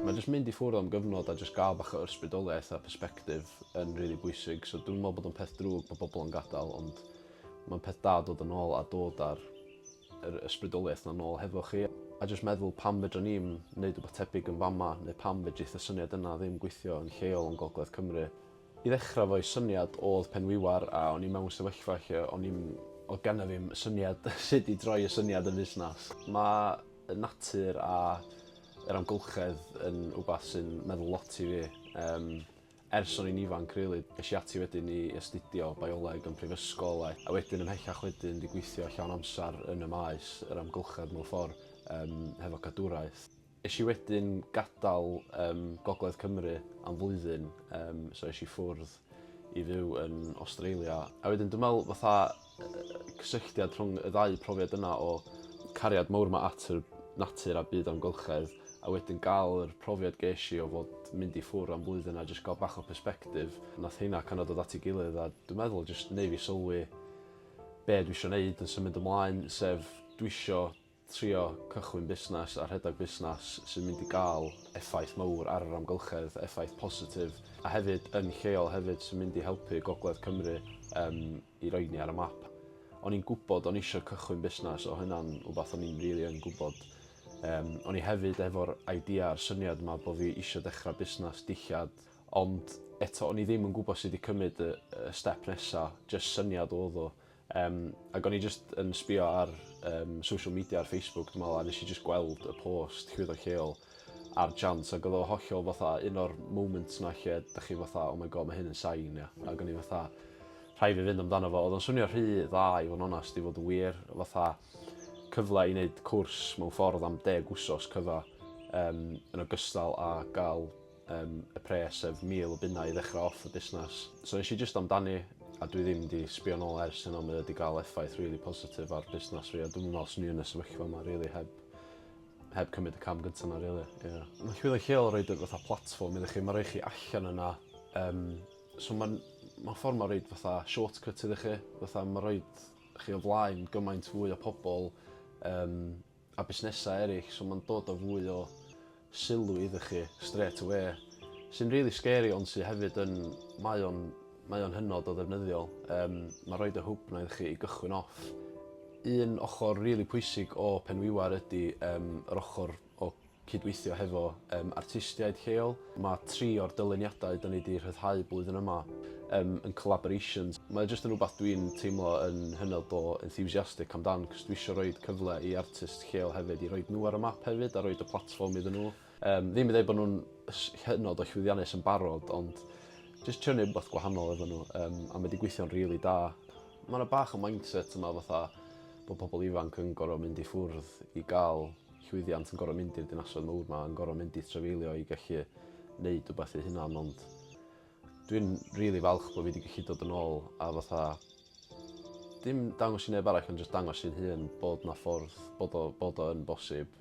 Mae jyst mynd i ffwrdd am gyfnod a jyst gael bach o ysbrydoliaeth a persbectif yn rili bwysig so dwi'm yn meddwl bod o'n peth drwg bod pobl yn gadael ond mae'n peth da dod yn ôl a dod â'r yr ysbrydoliaeth 'na nôl hefo chi a jyst meddwl pam fedran ni'm neud wbath tebyg yn fama neu pam fedrith y syniad yna ddim gweithio yn lleol yn gogledd Cymru. I ddechra efo 'i syniad odd Penwiwar a o'n i mewn sefyllfa lle o'n i'm odd genna fi'm syniad sud i droi y syniad yn fusnas. Ma' y natur a yr amgylchedd yn wbath sy'n meddwl lot i fi yym ers o'n i'n ifanc rili. Esh i ati wedyn i astudio bioleg yn prifysgol a a wedyn ymhellach wedyn 'di gweithio llawn amsar yn y maes yr amgylchedd mewn ffor yym hefo cadwraeth. Es i wedyn gadael um, Gogledd Cymru am flwyddyn, um, so es i ffwrdd i fyw yn Australia. A wedyn dwi'n meddwl fatha cysylltiad rhwng y ddau profiad yna o cariad mawr mae at yr natur a byd amgylchedd a wedyn gael yr profiad ges i o fod mynd i ffwr am flwyddyn a jyst gael bach o perspectif. Nath hynna kind of dod at ei gilydd a dwi'n meddwl jyst neu fi sylwi be dwi eisiau gwneud yn symud ymlaen sef dwi eisiau trio cychwyn busnes a rhedeg busnes sy'n mynd i gael effaith mawr ar yr amgylchedd, effaith positif, a hefyd yn lleol hefyd, sy'n mynd i helpu Gogledd Cymru yym i roi ni ar y map. O'n i'n gwybod o'n eisiau cychwyn busnes, o hynna'n wbath o'n i'n rili yn gwybod. Yym o'n i hefyd efo'r idea a'r syniad 'ma bod fi eisiau dechrau busnes dillad, ond eto o'n i ddim yn gwybod sut i cymryd y y step nesa, jyst syniad oedd o. Yym ag o'n i jyst yn sbïo ar yym social media ar Facebook dwi me'wl a nesh i jyst gweld y post llwyddo lleol ar Chance ag o'dd o hollol fatha un o'r moments 'na lle dach chi fatha oh my God ma' hyn yn sign ia? Ag o'n i fatha rhai' fi fynd amdano fo. Odd o'n swnio rhy dda i fo' yn onast i fod yn wir fatha cyfle i neud cwrs mewn ffordd am deg wsos cyfa yym yn ogystal â ga'l Yym y pres sef mil o bunnau i ddechrau off y busnes. So nes i jyst amdani a dwi ddim di sbio nôl ers hynna mae o wedi cael effaith rili positif ar busnes fi a dwi'm yn meddwl swn i yn y sefyllfa yma rili heb heb cymryd y cam gynta yna rili ie. Mae Llwyddo Lleol yn roid y fatha platfform iddo chi ma' roi chi allan yna yym so ma'n ma'n ffordd ma' roid fatha short cut iddo chi fatha ma' roid chi o flaen gymaint fwy o pobol yym a busnesau eraill so mae'n dod â fwy o sylw iddo chi straight away sy'n rili scary ond sydd hefyd yn... mae o'n mae o'n hynod o ddefnyddiol. Yym mae rhoid y hwb 'na iddo chi i gychwyn off. Un ochr rili pwysig o Penwiwar ydy yym yr ochr o cydweithio hefo yym artistiaid lleol. Ma' tri o'r dyluniadau 'da ni 'di rhyddhau blwyddyn yma yym yn collaborations. Mae o jyst yn rwbath dwi'n teimlo yn hynod o enthusiastic amdan 'c'os dwi isio roid cyfle i artists lleol hefyd i roid nhw ar y map hefyd a roid y platfform iddyn nhw. Yym ddim yn ddeud bod nhw'n s- hynod o llwyddiannus yn barod ond jyst trio neud rwbath gwahanol efo nhw yym a mae 'di gweithio'n rili da. Ma' 'na bach o mindset yma fatha bod pobl ifanc yn gor'o' mynd i ffwrdd i ga'l llwyddiant yn gorfod mynd i'r dinasoedd mawr 'ma, yn gorfod mynd i trafeilio i gallu neud wbath eu hunan ond dwi'n rili falch bod fi 'di gallu dod yn ôl a fatha dim dangos i neb arall ond jyst dangos i'n hun bod 'na ffordd bod o bod o yn bosib.